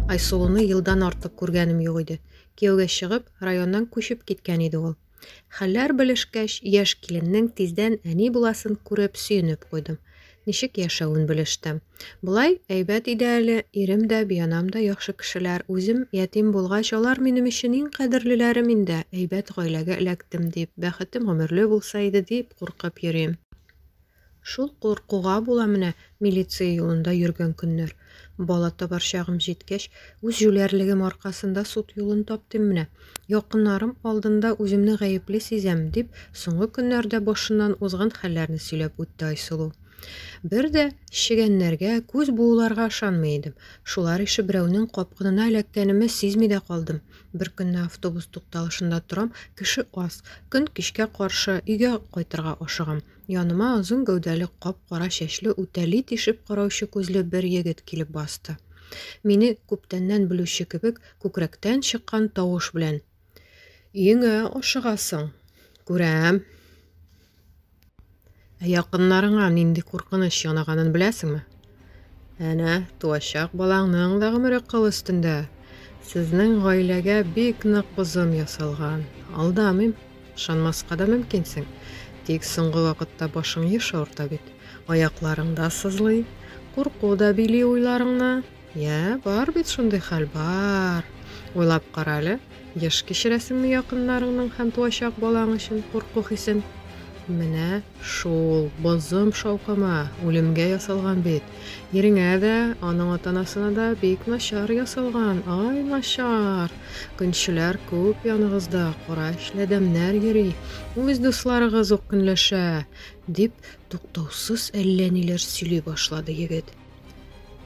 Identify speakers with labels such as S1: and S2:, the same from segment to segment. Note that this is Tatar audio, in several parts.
S1: Айсылуны елдан артык күргәнем юк иде. Кияүгә чыгып, районнан күчеп киткән иде ул. Хәлләр белешкәч, яшь киленнең тиздән әни буласын күреп сөенеп куйдым. Ничек яшәвен белештем. Болай әйбәт иде әле, ирем дә, бианам да яхшы кешеләр. Үзем ятим булгач, алар минем өчен иң кадерлеләрем инде. Әйбәт гаиләгә эләктем дип, бәхетем гомерле булса иде дип куркып йөрим. Шул куркуга була менә милиция юлында йөргән көннәр. Бала табар чагым җиткәч, үз җүләрлегем аркасында суд юлын таптым менә. Якыннарым алдында үземне гаепле сизәм, дип, соңгы көннәрдә башыннан узган хәлләрне сөйләп үтте Айсылу. Бер дә чегәннәргә, күз бууларга ышанмый идем. Шулар ише берәүнең капкынына эләккәнемне сизми дә калдым. Бер көнне автобус тукталышында торам, кеше аз. Көн кичкә каршы өйгә кайтырга ашыгам. Яныма озын гәүдәле, кап-кара чәчле, үтәли тишеп караучы күзле бер егет килеп басты. Мине күптәннән белүче кебек, күкрәктән чыккан тавыш белән, Өеңә ашыгасың. Күрәм. Ә якыннарыңа нинди куркыныч янаганын беләсеңме? Әнә, туачак балаңның да гомере кыл өстендә. Сезнең гаиләгә бик нык бозым ясалган. Алдамыйм, ышанмаска да мөмкинсең. Тик соңгы вакытта башың еш авырта бит. Аякларың да сызлый, курку да били уйларыңны. Йә, бар бит шундый хәл, бар. Уйлап кара әле, еш кичерәсеңме якыннарыңның һәм туачак балаң өчен курку хисен? Менә шул бозым шаукымы үлемгә ясалган бит. Иреңә дә, аның атанасына да бик начар ясалган, ай начар. Көнчеләр күп яныгызда, кара эшләдәмнәр йөри. Үз дусларыгыз ук көнләшә, дип туктаусыз әллә ниләр сөйли башлады егет.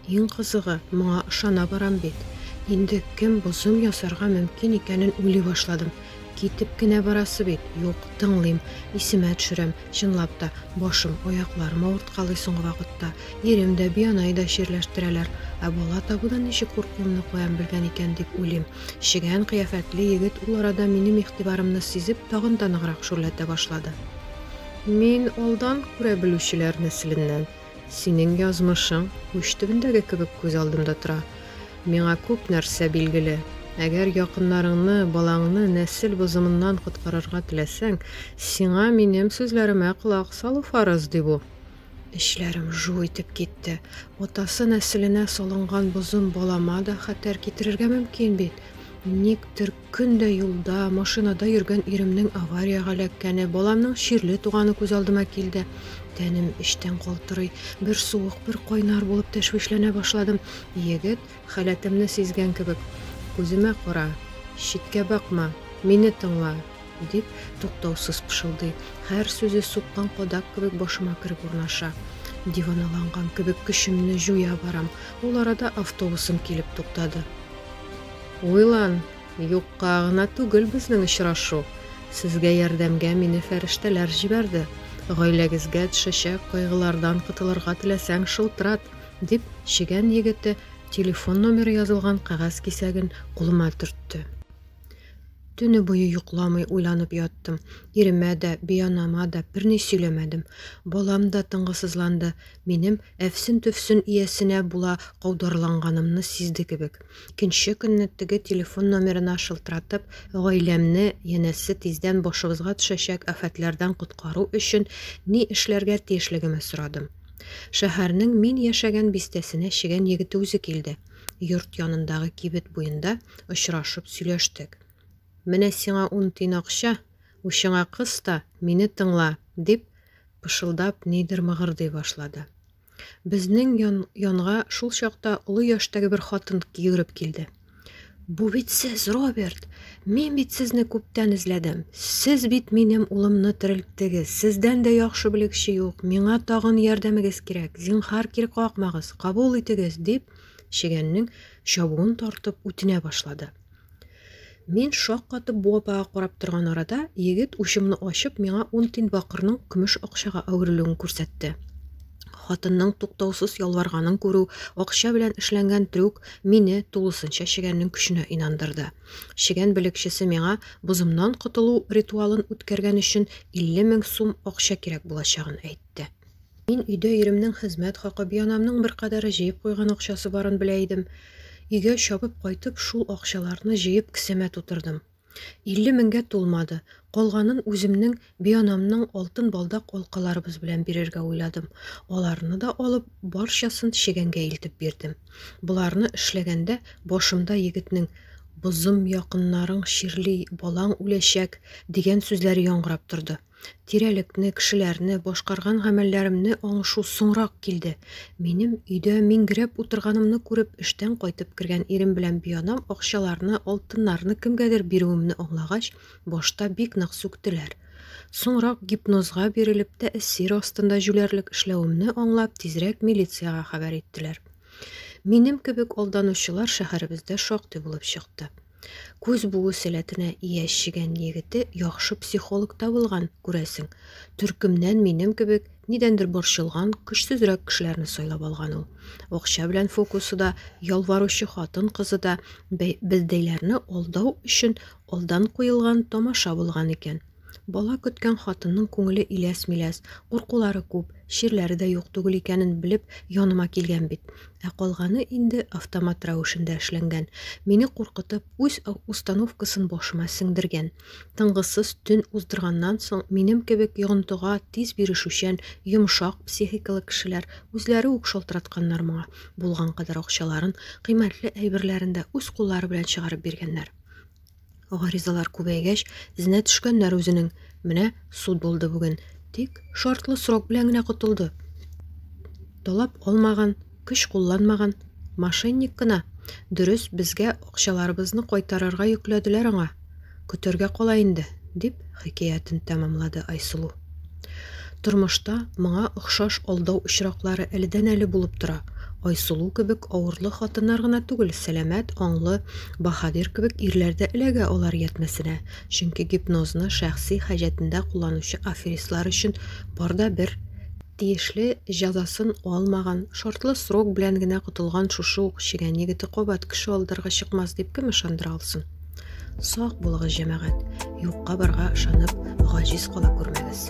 S1: Иң кызыгы, моңа ышана барам бит. Инде кем бозым ясарга мөмкин икәнен уйлый башладым. Китеп кенә барасы бит, юк, тыңлыйм, исемә төшерәм, чынлап та, башым, аякларым авырткалый соңгы вакытта. Ирем дә, Бианай да чирләштерәләр. Ә бала табудан ничек куркуымны куям белгән икән дип уйлыйм. Шигән кыяфәтле егет ул арада минем игътибарымны сизеп, тагын да ныграк шүрләтә башлады. Мин алдан күрә белүчеләр нәселеннән. Синең язмышың уч төбендәге кебек күз алдымда тора. Миңа күп нәрсә билгеле. Әгәр якыннарыңны, балаңны нәсел бозымыннан коткарырга теләсәң, сиңа минем сүзләремә колак салу фарыз, ди бу. Эчләрем жу итеп китте. Атасы нәселенә салынган бозым балама да хәтәр китерергә мөмкин бит. Никтер Көн дә юлда, машинада йөргән иремнең авариягә эләккәне, баламның чирле туганы күз алдыма килде. Тәнем эчтән калтырый. Бер суык, бер кайнар булып тәшвишләнә башладым. Егет, халәтемне сизгән кебек, Күземә кара, читкә бакма, мине тыңла, дип, туктаусыз пышылдый. Һәр сүзе суккан кадак кебек башыма кереп урнаша. Диваналанган кебек көчемне җуя барам. Ул арада автобусым килеп туктады. Уйлан, юкка гына түгел безнең очрашу. Сезгә ярдәмгә мине фәрештәләр җибәрде. Гаиләгезгә төшәчәк кайгылардан котылырга теләсәң, шылтырат, дип, чегән егете телефон номеры язылган кәгазь кисәген кулыма төртте. Төне буе йокламый уйланып яттым. Иремә дә, бианама да берни сөйләмәдем. Балам да тынгысызланды. Минем Әфсен-төфсен иясенә була каударланганымны сизде кебек. Икенче көнне теге телефон номерына шылтыратып, гаиләмне, янәсе, тиздән башыбызга төшәчәк афәтләрдән коткару өчен ни эшләргә тиешлегемә сорадым. Шәһәрнең мин яшәгән бистәсенә чегән егете үзе килде. Йорт янындагы кибет буенда очрашып сөйләштек. Менә сиңа ун тин акча, учыңа кыс та, мине тыңла, дип, пышылдап нидер мыгырдый башлады. Безнең ян, янга шул чакта олы яшьтәге бер хатын йөгереп килде. Бу бит сез, Роберт. Мин бит сезне күптән эзләдем. Сез бит минем улымны терелттегез. Сездән дә яхшы белгече юк. Миңа тагын ярдәмегез кирәк. Зинхар кир какмагыз, кабул итегез, дип, чегәннең чабуын тартып үтенә башлады. Мин шаккатып бу апага карап торган арада, егет учымны ачып, миңа ун тин бакырның көмеш акчага әверелүен күрсәтте. Хатынның туктаусыз ялварганын күрү, акча белән эшләнгән трюк мине тулысынча чегәннең көченә инандырды. Чегән белекчесе миңа бозымнан котылу ритуалын үткәргән өчен 50 мең сум акча кирәк булачагын әйтте. Мин өйдә иремнең хезмәт хакы, бианамның беркадәре җыеп куйган акчасы барын белә идем. Өйгә чабып кайтып, шул акчаларны җыеп кесәмә тутырдым. Илле меңгә тулмады. Калганын үземнең, бианамның алтын балдак алкаларыбыз белән бирергә уйладым. Аларны да алып, барчасын чегәнгә илтеп бирдем. Боларны эшләгәндә, башымда егетнең Бозым якыннарың чирли, балаң үләчәк, дигән сүзләре яңгырап торды. Тирәлекне, кешеләрне, башкарган гамәлләремне аңышу соңрак килде. Минем өйдә миңгерәп утырганымны күреп, эштән кайтып кергән ирем белән бианам акчаларны, алтыннарны кемгәдер бирүемне аңлагач, башта бик нык сүктеләр. Соңрак гипнозга бирелеп, тәэсир астында җүләрлек эшләвемне аңлап, тизрәк милициягә хәбәр иттеләр. Минем кебек алданучылар шәһәребездә шактый булып чыкты. Күз буы сәләтенә ия чегән егете яхшы психолог та булган, күрәсең. Төркемнән минем кебек нидәндер борчылган, көчсезрәк кешеләрне сайлап алган ул. Акча белән фокусы да, ялваручы хатын-кызы да, бе- бездәйләрне алдау өчен алдан куелган тамаша булган икән. Бала көткән хатынның күңеле иләс-миләс, куркулары күп, чирләре дә юк түгел икәнен белеп, яныма килгән бит. Ә калганы инде автомат рәвешендә эшләнгән. Мине куркытып, үз установкасын башыма сеңдергән. Тынгысыз төн уздырганнан соң, минем кебек йогынтыга тиз бирешүчән, йомшак психикалы кешеләр үзләре үк шалтыратканнар моңа. Булган кадәр акчаларын, кыйммәтле әйберләрен дә үз куллары белән чыгарып биргәннәр. Гаризалар күбәйгәч, эзенә төшкәннәр үзенең. Менә суд булды бүген. Тик шартлы срок белән генә котылды. Талап алмаган, көч кулланмаган, мошенник кына. Дөрес, безгә акчаларыбызны кайтарырга йөкләделәр аңа. Көтәргә кала инде, дип хикәятен тәмамлады Айсылу. Тормышта моңа охшаш алдау очраклары әледән-әле булып тора. Айсылу кебек авырлы хатыннар гына түгел, сәламәт, аңлы, баһадир кебек ирләр дә эләгә алар ятьмәсенә. Чөнки гипнозны шәхси хаҗәтендә кулланучы аферистлар өчен бар да бер Тиешле җәзасын алмаган, шартлы срок белән генә котылган шушы ук чегән егете кабат кеше алдарга чыкмас дип кем ышандыра алсын? Сак булыгыз, җәмәгать, юкка барга ышанып, гаҗиз кала күрмәгез.